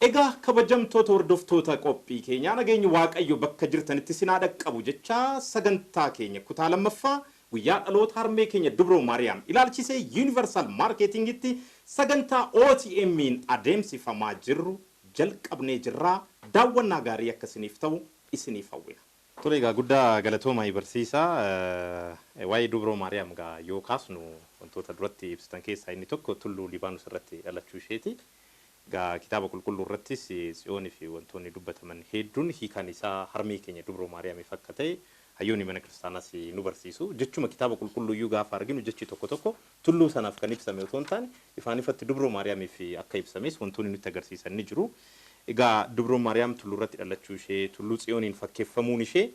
Egaa kabajamtoota hordoftoota qophii keenyaa nageenyi waaqayyo bakka jirtanitti isin haa dhaqqabu jechaa sagantaa keenya kutaa lammaffaa guyyaa dhaloota harmee keenya dubroo maariyaam ilaalchisee Universal Marketing tti sagantaa OTMn adeemsifamaa jirru jalqabnee jirraa daawwannaa gaarii akka isiniif ta'u isiniif hawwina. Tole egaa guddaa galatoomaai barsiisaa waa'ee dubroo maariyaam egaa yoo kaasnu wantoota duratti ibsitan keessaa inni tokko tulluu libaanus irratti dhalachuu isheeti Egaa Kitaaba Qulqulluu irrattis Tsiyoonii fi wantoonni dubbataman hedduun hiikaan isaa harmee keenya Dubroo Maariyaamiif akka ta'e hayyoonni Mana Kiristaanaas nu barsiisu. Jechuma Kitaaba Qulqulluu iyyuu gaafa arginu jechi tokko tokko tulluu sanaaf kan ibsame otoo hin taane ifaan ifatti Dubroo Maariyaamiif akka ibsames wantoonni nutti agarsiisan ni jiru. Egaa Dubroon Maariyaam tulluu irratti dhalachuu ishee, Tulluu Tsiyooniin fakkeeffamuun ishee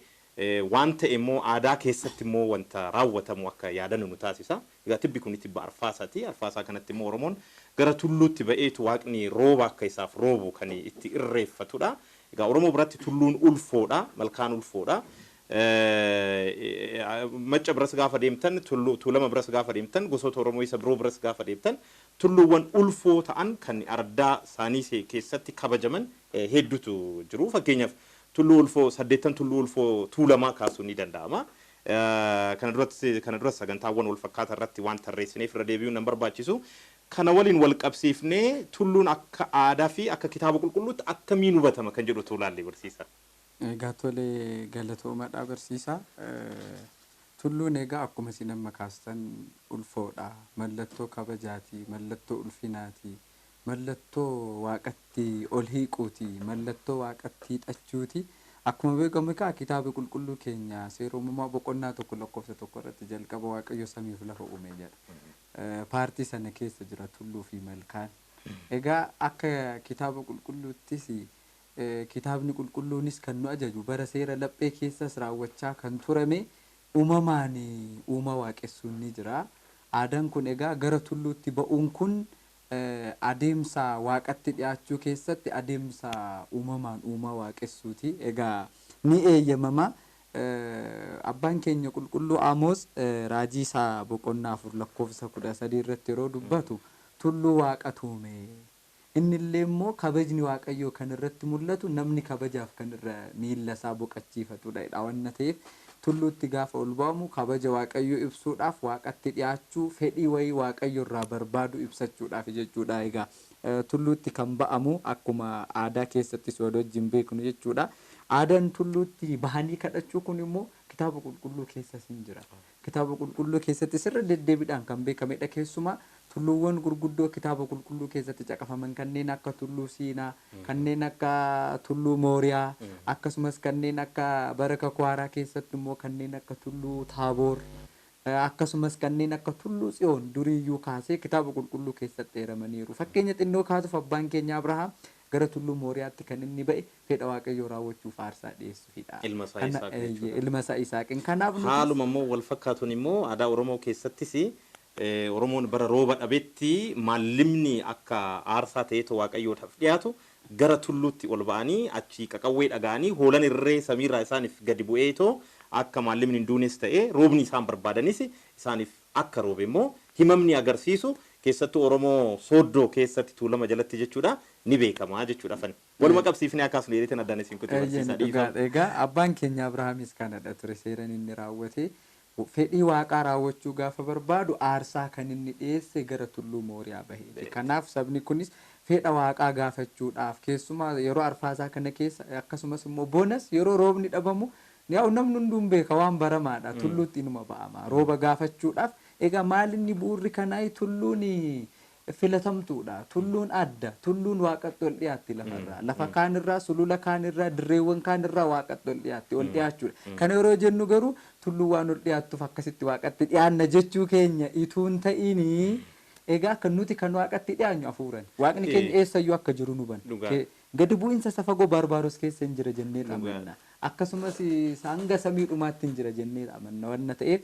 waan ta'e immoo aadaa keessatti immoo wanta raawwatamu akka yaadannu nu taasisa. Egaa tibbi kuni tibba arfaasaati. Arfaasaa kanatti immoo Oromoon gara tulluutti ba'eetu waaqni rooba akka isaaf roobu kan itti irreeffatudha. Egaa Oromoo biratti tulluun ulfoodha. Malkaan ulfoodha. Macca biras gaafa deemtan, Tulluu Tuulama biras gaafa deemtan, gosoota Oromoo isa biroo biras gaafa deemtan tulluuwwan ulfoo ta'an kan araddaa saanii keessatti kabajaman heedduutu jiru. Fakkeenyaaf Tulluu Ulfoo, saddeettan Tulluu Ulfoo Tuulamaa kaasuun ni danda'ama. Kana duras kana duras sagantaawwan wal fakkaataa irratti waan tarreessineef irra deebi'uun nan barbaachisu. Kana waliin wal qabsiifnee tulluun akka aadaa fi akka kitaaba qulqulluutti akkamiin hubatama kan jedhu utuu ilaallee barsiisaa. Egaa tole galatoomadha barsiisaa. Tulluun egaa akkuma isin amma kaastan ulfoodha, mallattoo kabajaati, mallattoo ulfinaati, mallattoo Waaqatti ol hiiquuti, mallattoo Waaqatti hiixachuuti. Akkuma beekamu egaa Kitaabni Qulqulluu keenya Seera Uumamaa boqonnaa 1 lakkoofsa 1 irratti jalqaba Waaqayyo samii fi lafa uume jedha. Paartii sana keessa jira tulluu fi malkaan. Egaa akka Kitaaba Qulqulluuttis Kitaabni Qulqulluunis kan nu ajaju bara seera laphee keessas raawwachaa kan turame uumamaan uumaa waaqessuun ni jira. Aadaan kun egaa gara tulluutti ba'uun kun adeemsa Waaqatti dhiyaachuu keessatti adeemsa uumamaan uumaa waaqessuuti. Egaa ni eeyyamama. Abbaan keenya qulqulluu Amoos raajii isaa boqonnaa 4 lakkoofsa 13 irratti yeroo dubbatu tulluu Waaqatu uume. Inni illee immoo kabajni Waaqayyoo kan irratti mul'atu namni kabajaaf kan irra miilla isaa boqachiifatudha jedha. Wanna ta'eef Tulluutti gaafa ol ba'amu kabaja Waaqayyoo ibsuudhaaf, Waaqatti dhiyaachuu, fedhii wayii Waaqayyo irraa barbaadu ibsachuudhaafi jechuudha. Egaa tulluutti kan ba'amu akkuma aadaa keessattis wal wajjin beeknu jechuudha. Aadaan tulluutti bahanii kadhachuu kun immoo Kitaaba Qulqulluu keessas in jira. Kitaaba Qulqulluu keessattis irra deddeebiidhaan kan beekamedha. Keessumaa Tulluuwwan gurguddoo Kitaaba Qulqulluu keessatti caqafaman kanneen akka Tulluu Siinaa, kanneen akka Tulluu Mooriyaa, akkasumas kanneen akka bara Kakuu Haaraa keessatti immoo kanneen akka Tulluu Taaboor, akkasumas kanneen akka Tulluu Tsiyoon durii iyyuu kaasee Kitaaba Qulqulluu keessatti eeramaniiru. Fakkeenya xinnoo kaasuuf abbaan keenya Abrahaam gara Tulluu Mooriyaatti kan inni ba'e fedha Waaqayyoo raawwachuuf aarsaa dhi'eessufi dha. Ilma isaa Kana, Yisaaqin eeyyee, jechuudha. ilma isaa Yisaaqiin. Kanaaf nutis. Haaluma immoo wal fakkaatuun immoo aadaa Oromoo keessattis Oromoon bara rooba dhabetti maallimni akka aarsaa ta'eetoo Waaqayyoodhaaf dhiyaatu gara tulluutti ol ba'anii achii qaqawwee dhaga'anii hoolan irree samiirraa isaaniif gadi bu'eetoo akka maallimni hin duunes ta'e roobni isaan barbaadanis isaaniif akka roobe immoo himamni agarsiisu keessattuu Oromoo Sooddoo keessatti Tuulama jalatti jechuudha ni beekama jechuudha afani waluma qabsiifnee akka haasnu jedheetin addaan isin kute Eeyyeen barsiisaa dhiifama. dhugaadha egaa abbaan keenya Abrahaamis kanadha ture seeran inni raawwate Fedhii Waaqaa raawwachuu gaafa barbaadu aarsaa kan inni dhiyeesse gara tulluu Mooriyaa baheeti. Kanaaf sabni kunis fedha Waaqaa gaafachuudhaaf keessumaa yeroo arfaasaa kana keessa akkasumas immoo bonas yeroo roobni dhabamu yaa'u namni hunduu hin beeka waan baramaadha tulluutti inuma ba'ama rooba gaafachuudhaaf egaa maalinni bu'uurri kanaa tulluun filatamtuudha. Tulluun adda. Tulluun Waaqatti ol dhiyaatti lafarraa. Lafa kaanirraa, sulula kaanirraa, dirreewwan kaanirraa Waaqatti ol dhiyaatti. Ol dhiyaachuudha. Kana yeroo jennu garuu tulluun waan ol dhiyaattuuf akkasitti Waaqatti dhiyaanna jechuu keenya utuu hin ta'iin egaa akka nuti kan Waaqatti dhiyaanyu hafuurani. Waaqni keenya eessayyuu akka jiru nu hubana. Dhugaa. Gadi bu'iinsa isa fagoo Baarbaaros keessa hin jira jennee Dhugaa. amanna. Akkasumas isa hanga samii dhumaatti hin jira jennee amanna wanna ta'eef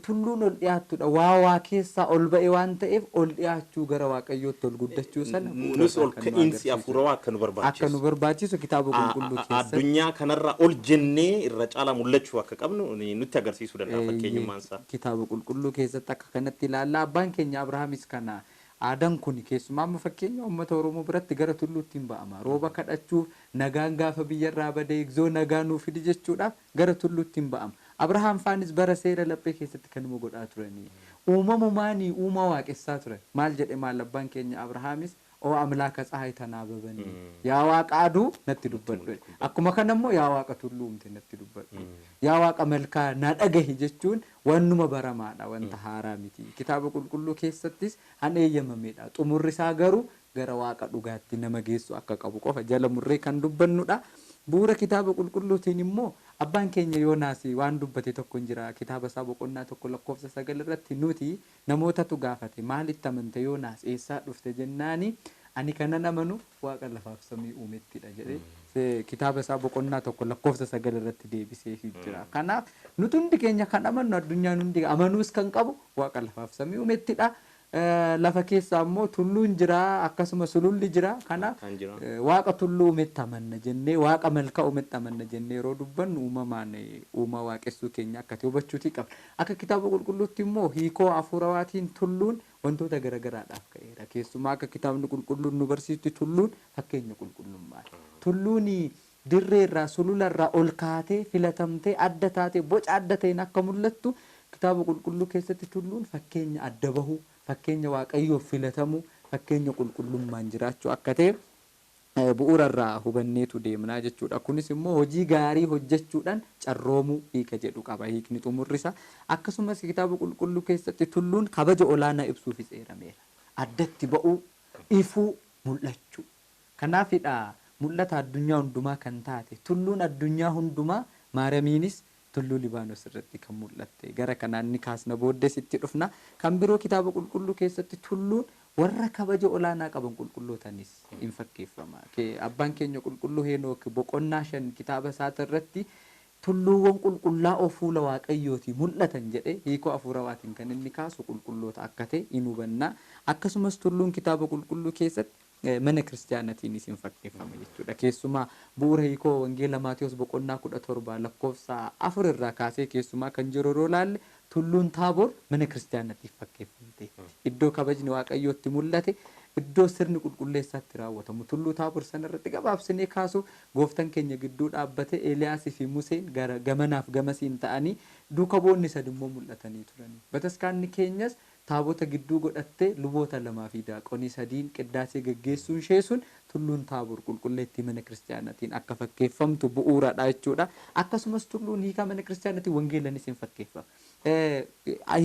Tulluun ol dhi'aattuu dha. Waa waa keessaa ol ba'e waan ta'eef ol dhi'aachuu gara Waaqayyootti ol guddachuu sana bu'uura Nus isaa ol kan nu ka'iinsi agarsiisu hafuurawaa dha. akka nu Akka nu barbaachisu, barbaachisu Kitaaba a- Qulqulluu a- a- keessatti addunyaa kanarraa ol jennee irra caalaa mul'achuu akka qabnu ni- nutti agarsiisuu danda'a Eeyyee, fakkeenyummaan isaa. Kitaaba Qulqulluu keessatti akka kanatti ilaalla. Abbaan keenya Abrahaamis kana aadaan kun keessumaa amma fakkeenya uummata Oromoo biratti gara tulluutti in ba'ama. Rooba kadhachuuf, nagaan gaafa biyyarraa bade, egzoo nagaa nuu fidi jechuudhaaf Gara tulluutti in ba'ama. Abrahaam faanis bara seera laphee keessatti kanuma godhaa turani. Uumamumaanii uumaa waaqessaa turan. Maal jedhe maal abbaan keenya Abrahaamis O amlaaka tsahaay tanaababani. Yaa waaqa aduu natti dubbadhu jedhe. Akkuma kana immoo yaa waaqa tulluu uumte natti dubbadhu. Yaa waaqa malkaa na dhagahi jechuun wannuma baramaadha wanta haaraa miti. Kitaaba qulqulluu keessattis han eeyyamameedha. Xumurri isaa garuu gara Waaqa dhugaatti nama geessu akka qabu qofa jala murree kan dubbannu dha. Bu'uura Kitaaba Qulqulluutiin immoo, Abbaan keenya Yoonaas waan dubbate tokko in jira. Kitaaba isaa boqonnaa 1 lakkoofsa 9 irratti, Nuti, namootatu gaafate, Maalitti amante Yoonaas? Eessaa dhufte? jennaan, Ani kanan amanu Waaqa lafaa fi samii uumetti dha jedhee Kitaaba isaa boqonnaa 1 lakkoofsa 9 irratti deebiseefii jira. Kanaaf, nuti hundi keenya kan amannu, addunyaan hundi amanuus kan qabu Waaqa lafaa fi samii uumetti dha. Lafa keessa ammoo tulluun jira, akkasuma sululli jira. Kana Malkaan jira. Waaqa tulluu uumetti amanna jennee, Waaqa malkaa uumetti amanna jennee yeroo dubbannu uumamaan uumaa waaqessuu keenya akka ta'e hubachuutii qabna. Akka Kitaaba Qulqulluutti immoo hiikoo hafuurawaatiin tulluun wantoota gara garaadhaaf ka'eera. Keessumaa akka Kitaabni Qulqulluun nu barsiisutti tulluun fakkeenya qulqullummaati. Tulluun Dirreerraa, sulularraa ol kaatee, filatamtee, adda taatee, boca adda ta'een akka mul'attu Kitaaba Qulqulluu keessatti tulluun fakkeenya adda bahuu, fakkeenya Waaqayyoof filatamuu, fakkeenya qulqullummaan jiraachuu akka ta'e bu'uura irraa hubanneetu deemna jechuu dha. Kunis immoo hojii gaarii hojjechuudhaan carroomuu hiika jedhu qaba hiikni xumurri isaa. Akkasumas Kitaaba Qulqulluu keessatti tulluun kabaja olaanaa ibsuufis eerameera. Addatti ba'uu, ifuu, mul'achuu. Kanaafidha mul'ata addunyaa hundumaa kan taate tulluun addunyaa hundumaa Maaramiinis tulluu Libaanos irratti kan mul'atte. Gara kanaan ni kaasna booddees itti dhufna. Kan biroo kitaaba qulqulluu keessatti tulluun warra kabaja olaanaa qaban qulqullootanis in fakkeeffama. Abbaan keenya qulqulluu Heenook boqonnaa 5 kitaaba isaati irratti tulluuwwan qulqullaa'oo fuula Waaqayyootii mul'atan jedhee hiikoo afuurawaatiin kan inni kaasu qulqulloota akka ta'e in hubanna. Akkasumas tulluun kitaaba qulqulluu keessatti. Mana Kiristiyaanatiinis in fakkeeffama jechuudha. Keessumaa bu'uura hiikoo Wangeela Maatewos boqonnaa 17 lakkoofsa 4 irraa kaasee keessumaa kan jiru yeroo ilaalle tulluun Taabor mana Kiristiyaanatiif fakkeeffamteetti. Iddoo kabajni Waaqayyoo itti mul'ate, iddoo sirni qulqulleessaa itti raawwatamu. Tulluu Taabor sana irratti gabaabsinee kaasuuf Gooftan keenya gidduu dhaabbatee Eeliyaasii fi Museen gara gamanaaf gamasiin ta'anii duuka bu'oonni sadimmoo mul'atanii turani. Bataskaanni keenyas Taabota gidduu godhattee luboota lamaa fi daaqonii sadiin qiddaasee geggeessuun ishee sun Tulluun Taabor qulqulleettii Mana Kiristiyaanaatiin akka fakkeeffamtu bu'uura dha jechuu dha. Akkasumas Tulluun hiikaa Mana Kiristiyaanaatiin Wangeelanis in fakkeeffama.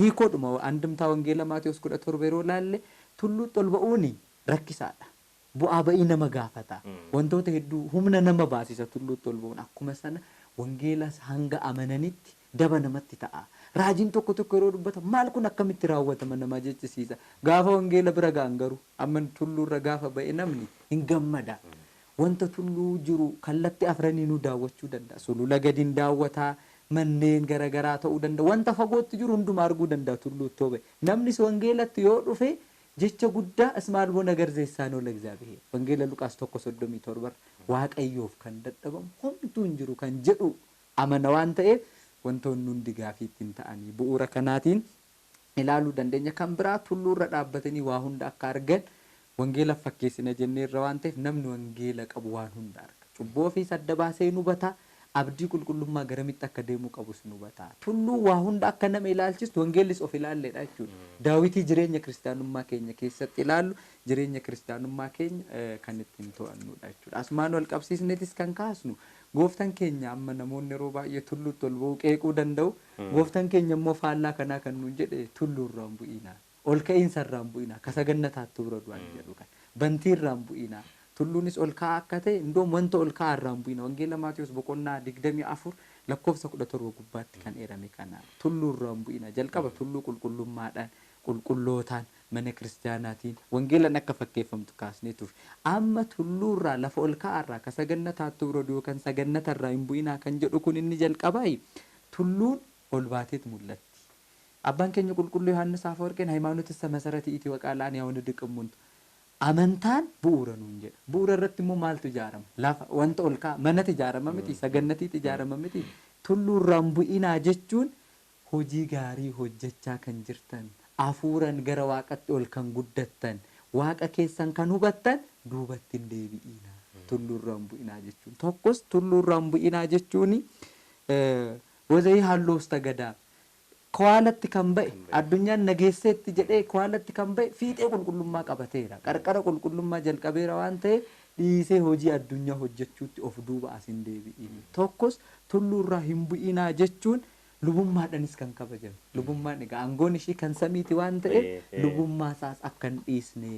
Hiikoodhuma andimtaa Wangeela Maatewos 17 yeroo ilaalle Tulluutti ol ba'uun rakkisaa dha. Bu'aa ba'ii nama gaafata. Wantoota hedduu humna nama baasisa tulluutti ol ba'uun. Akkuma sana wangeelas hanga amananitti daba namatti ta'a. Raajiin tokko tokko yeroo dubbatamu maal kun akkamitti raawwatama nama jechisiisa. Gaafa wangeela bira ga'an garuu amma tulluurra gaafa ba'e namni hin gammada. Wanta tulluu jiru kallatti afraniinuu daawwachuu danda'a. Sulula gadi hin daawwata, manneen gara garaa ta'uu danda'a. Wanta fagootti jiru hunduma arguu danda'a tulluutti yoo ba'e. Namnis wangeelatti yoo dhufe Jecha guddaa As maal hoo nagar zeessaan hoo lagzaabiheer? Wangeela Luqaas 1 37 irra Waaqayyoof kan dadhabamu homtuu hin jiru kan jedhu amana waan ta'eef wantoonni hundi gaafii itti hin ta'anii bu'uura kanaatiin ilaaluu dandeenya. Kan biraa tulluu irra dhaabbatanii waa hunda akka argan wangeelaf fakkeessina jenneerra waan ta'eef namni wangeela qabu waan hunda arga. Cubbuu ofiis adda baasee hin hubata. abdii qulqullummaa garamitti akka deemuu qabus nu hubata. Tulluu waa hunda akka nama ilaalchistu wangeellis of ilaalleedha jechuudha. Daawitii jireenya kiristaanummaa keenya keessatti ilaallu jireenya kiristaanummaa keenya kan ittiin to'annuudha jechuudha. Asumaan wal qabsiisneetis kan kaasnu gooftan keenya amma namoonni yeroo baay'ee tulluutti ol ba'uu qeequu danda'u. Gooftan keenya immoo faallaa kanaa kan nuun jedhe tulluurra hin bu'iinaa. Ol ka'iinsa irraa hin bu'inaa, ka sagannataattu bira du'an jedhu kana. Bantii irraa hin bu'inaa, tulluunis ol ka'aa akka ta'e, indoom wanta ol ka'aa irraa hin bu'ina. Wangeela Maatewos boqonnaa 24 lakkoofsa 17 gubbaatti kan eerame kana. Tulluu irraa hin bu'ina. Jalqaba tulluu qulqullummaadhaan, qulqullootaan, mana kiristiyaanaatiin, wangeelan akka fakkeeffamtu kaasnee turre. Amma tulluu irraa, lafa ol ka'aa irraa, ka sagannataattu bira du'an yookan sagannata irraa hin bu'inaa kan jedhu kun inni jalqabaayi. Tulluun ol baateet mul'atti. Abbaan keenya Qulqulluu Yohaannis Afawarqiin Hayimaanotissa Masarati iti waqaa laani yawani diqimmuntu. Amantaan bu'uura nuun jedha. Bu'uura irratti immoo maaltu ijaarama? Lafa, wanta ol ka'aa, manatu ijaarama mitii? Sagannatiitu ijaarama mitii? Tulluu irraa hin bu'inaa jechuun hojii gaarii hojjechaa kan jirtan, afuuran gara Waaqatti ol kan guddattan, Waaqa keessan kan hubattan duubatti hin deebi'iinaa. Tulluu irraa hin bu'inaa jechuun. Tokkos tulluu irraa hin bu'inaa jechuun Wazayii halloofsta gadaa. Kowaalatti kan ba'e, addunyaan na geesseetti jedhee kowaalatti kan ba'e fiixee qulqullummaa qabateera. Qarqara qulqullummaa jalqabeera waan ta'eef dhiisee hojii addunyaa hojjechuutti of duuba as hin deebi'in. Tokkos tulluurraa hin bu'inaa jechuun lubummaadhanis kan kabajame. Lubummaan egaa aangoon ishii kan samiiti waan ta'eef lubummaa isaas akka hin dhiisne.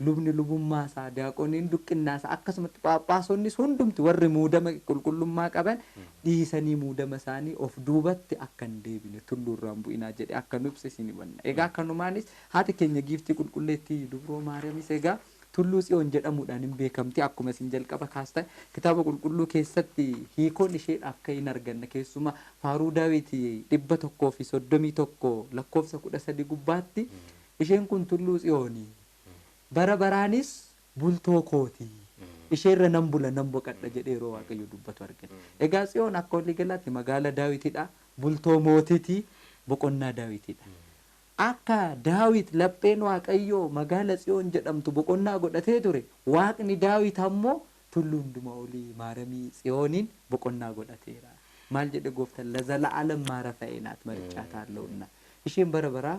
lubni lubummaa isaa, diyaaqoniin duqqinnaa isaa, akkasumatti phaaphaasonnis hundumti warri muudama qulqullummaa qaban dhiisanii muudama isaanii of duubatti akka hin deebine tulluu irraa hin bu'inaa jedhee akka nu ibse isin himanna. Egaa kanumaanis haati keenya giiftii qulqulleettii dubroo Maariyamis egaa tulluu Tsiyoon jedhamuudhaan hin beekamti akkuma isin jalqaba kaastan kitaaba qulqulluu keessatti hiikoon isheedhaaf ka'e hin arganna keessumaa faaruu Daawit 131 lakkoofsa 13 gubbaatti Isheen kun tulluu Tsiyooni. bara baraanis bultoo koo ti, ishee irra nan bula, nan boqadha jedhee yeroo Waaqayyo dubbatu argina. Egaa Tsiyoon akka walii galaatti magaala Daawiti dha, bultoo mootii ti, boqonnaa Daawiti dha. Akka Daawit lapheen Waaqayyoo magaala Tsiyoon jedhamtu boqonnaa godhatee ture, Waaqni Daawit ammoo tulluu hundumaa olii Maaramii Tsiyooniin boqonnaa godhateera. Maal jedhe gooftan? Lazala'alam maarafa'ee naat mariccaataa allowunna. Isheen bara baraa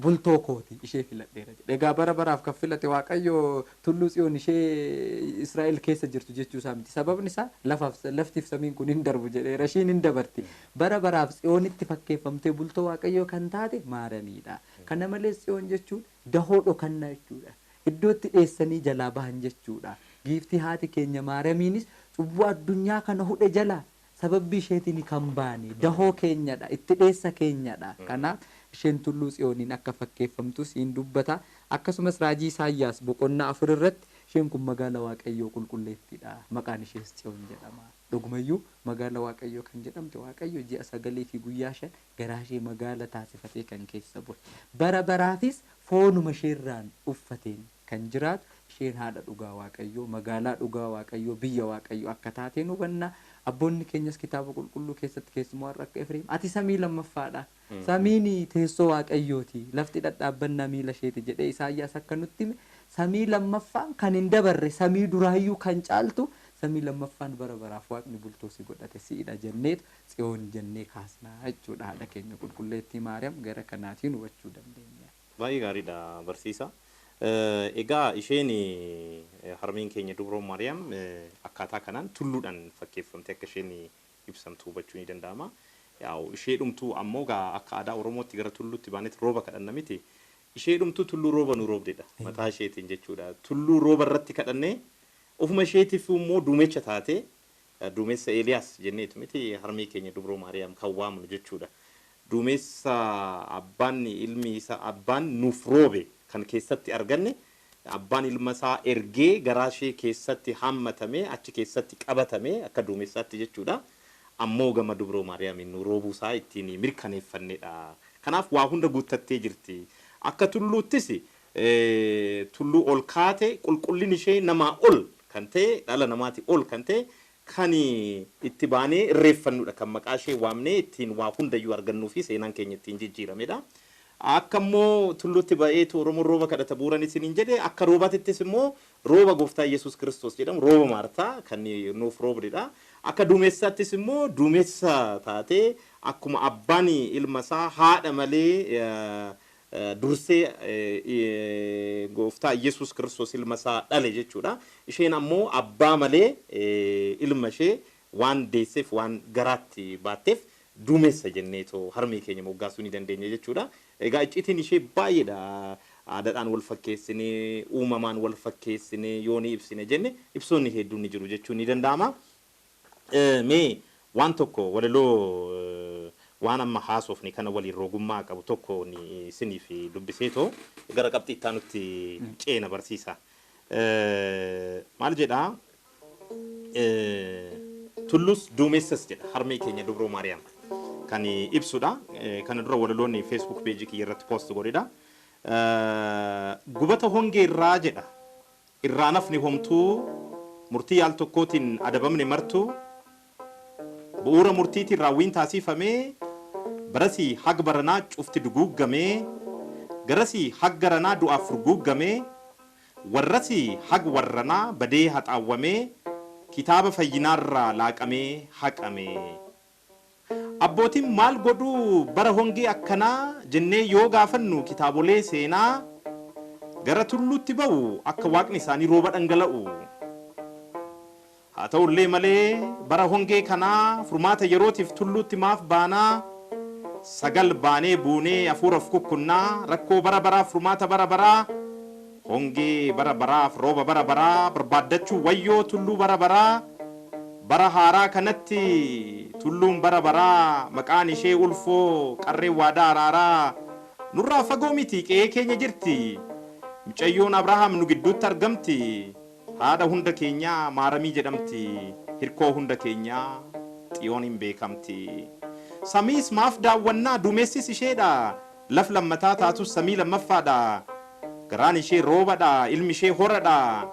bultoo koo ti, ishee filadheera jedhe. Egaa bara baraaf kan filate Waaqayyo Tulluu Tsiyoon ishee Israa'el keessa jirtu jechuu isaa miti. Sababni isaa lafaaf, laftiif samiin kun hin darbu jedheera. Ishiin hin dabarti. Bara baraaf Tsiyoonitti fakkeeffamtee bultoo Waaqayyoo kan taate Maarami dha. Kana malees Tsiyoon jechuun dahoo dhokannaa jechuu dha. Iddoo itti dheessanii jalaa bahan jechuu dha. Giiftii haati keenya Maaramiinis cubbuu addunyaa kana hudhe jalaa Sababbii isheetiin kan baane dahoo keenya dha, itti dheessa keenya dha. Kanaaf, isheen Tulluu Tsiyooniin akka fakkeeffamtus in dubbata. Akkasumas raajii Isaayyaas boqonnaa 4 irratti isheen kun magaala Waaqayyoo qulqulleettii dha, maqaan ishees Tsiyoon jedhama. Dhuguma iyyuu, magaala Waaqayyoo kan jedhamte Waaqayyo ji'a sagalii fi guyyaa shan garaa ishee magaala taasifatee kan keessa bule, bara baraafis foonuma ishee irraan uffateen. Kan jiraatu isheen haadha dhugaa Waaqayyoo, magaalaa dhugaa Waaqayyoo, biyya Waaqayyoo akka taate in hubanna. Abboonni keenyas Kitaaba Qulqulluu keessatti keessumoo har'a akka Efreem, Ati samii lammaffaa dha, samiin teessoo Waaqayyoo ti, lafti dhadhaabbannaa miila ishee ti jedhee Isaayyaas akka nutti hime, samii lammaffaan kan hin dabarre, samii duraa iyyuu kan caaltu samii lammaffaan bara baraaf Waaqni bultoo si godhate si'i dha jenneetu Tsiyoon jennee kaasna jechuu dha. Haadha keenya Qulqulleettii Maariyaam gara kanaatiin hubachuu dandeenya. Baay'ee gaariidha barsiisa. Egaa isheen harmeen keenya dubroo Maariyaam akkaataa kanaan tulluudhaan fakkeeffamtee akka isheen ibsamtu hubachuu ni danda'ama. Yaa'u ishee dhumtuu ammoo gaa akka aadaa Oromootti gara tulluutti baanetti rooba kadhanna miti. Ishee dhumtuu tulluu rooba nu roobdedha mataa isheetiin jechuudha. Tulluu rooba irratti kadhannee ofuma isheetiif immoo duumecha taatee duumessa Eeliyaas jenneetu miti harmee keenya dubroo Maariyaam kan waamnu jechuudha. Duumessa abbaan ilmi isa abbaan nuuf roobe kan keessatti arganne abbaan ilma isaa ergee garaa ishee keessatti haammatamee achi keessatti qabatame akka duumessaatti jechuudha. Ammoo gama dubroo Maariyaamiin nu roobuu isaa ittiin mirkaneeffannedha. Kanaaf waa hunda guuttattee jirti. Akka tulluuttis tulluu ol kaate qulqullini ishee namaa ol kan ta'e, dhala namaati ol kan ta'e, kan itti baanee irreeffannudha, kan maqaa ishee waamnee ittiin waa hundayyuu argannuu fi seenaan keenya ittiin jijjiiramedha. Akka immoo tulluutti ba'eetu Oromoon rooba kadhata bu'uuran isiniin jedhe, akka roobatittis immoo rooba Gooftaa Yesuus Kiristoos jedhamu rooba Maarta kan nuuf roobdudha. Akka duumessaattis immoo duumessa taatee akkuma abbaan ilma isaa haadha malee dursee Gooftaa Iyyesuus Kiristoos ilma isaa dhale jechuudha. Isheen ammoo abbaa malee ilma ishee waan deesseef waan garaatti baatteef duumessa jenneetoo harmee keenya moggaasuu ni dandeenya jechuudha. Egaa icciitiin ishee baay'eedha. Aadaadhaan wal fakkeessinee, uumamaan wal fakkeessinee yoo ni ibsina jenne ibsoonni hedduun ni jiru jechuun ni danda'ama. Mee waan tokko walaloo waan amma haasofne kana waliin rogummaa qabu tokkoon isiniif dubbiseetoo gara qabxii itti aanutti ceena barsiisaa. Maal jedhaa? Tulluus duumessas jedha harmee keenya Dubroo Maariyaam kan ibsudha. Kana dura walaloonni Facebook page kiyya irratti post godhedha. Gubata hongee irraa jedha Irraa hin hafne homtuu murtii yaal tokkootiin adabamne martuu bu'uura murtiitiin raawwiin taasiifame barasii hag baranaa cufti duguuggamee garasii hag garanaa du'aaf furguuggamee warrasii hag warranaa badee haxaawwamee kitaaba fayyinaarraa laaqamee haqamee. Abbootiin maal godhu bara hongee akkanaa jennee yoo gaafannu kitaabolee seenaa gara tulluutti ba'u akka waaqni isaanii rooba dhangala'u. Haa ta'ullee malee bara hongee kanaa furmaata yerootiif tulluutti maaf baana? Sagal baanee buunee afuura of kukkunna, rakkoo bara baraaf furmaata bara baraa. Hongee bara baraaf rooba bara baraa barbaaddachuu wayyoo tulluu bara baraa Bara haaraa kanatti tulluun bara baraa maqaan ishee ulfoo qarreen waadaa araaraa Nurraa fagoo miti qe'ee keenya jirti Micayyoon Abrahaam nu gidduutti argamti Haadha hunda keenyaa maaramii jedhamti Hirkoo hunda keenyaa xiyooniin beekamti Samiis maaf daawwannaa duumessis isheedha Laf lammataa taatus samii lammaffaadha. Garaan ishee roobadha, ilmi ishee horadha.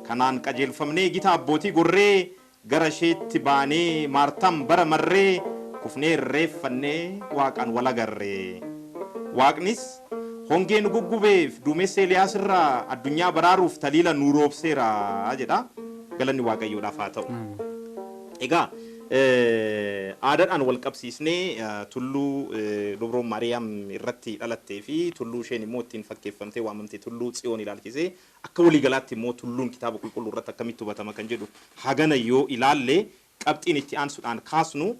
Kanaan qajeelfamnee gita abbootii gorree gara isheetti baanee Maartaam bara marree kufnee irreeffannee Waaqaan wal agarre. Waaqnis hongee nu guggubeef duumessa Eliyaas irraa addunyaa baraaruuf taliila nuu roobseera jedha. Galanni Waaqayyoodhaaf haa ta'u. Egaa Aadaadhaan walqabsiisnee tulluu Dubroon Maariyaam irratti dhalattee fi tulluu isheen immoo ittiin fakkeeffamtee waamamte Tulluu Tsiyoon ilaalchisee akka walii galaatti immoo tulluun Kitaaba Qulqulluu irratti akkamitti hubatama kan jedhu hagana yoo ilaalle, qabxiin itti aansuudhaan kaasnu,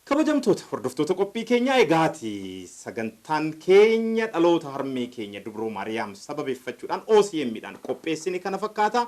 Kabajamtoota hordoftoota qophii keenyaa egaa ati sagantaan keenya dhaloota harmee keenya Dubroo Maariyaam sababeeffachuudhaan OCM dhaan qopheessine kana fakkaata.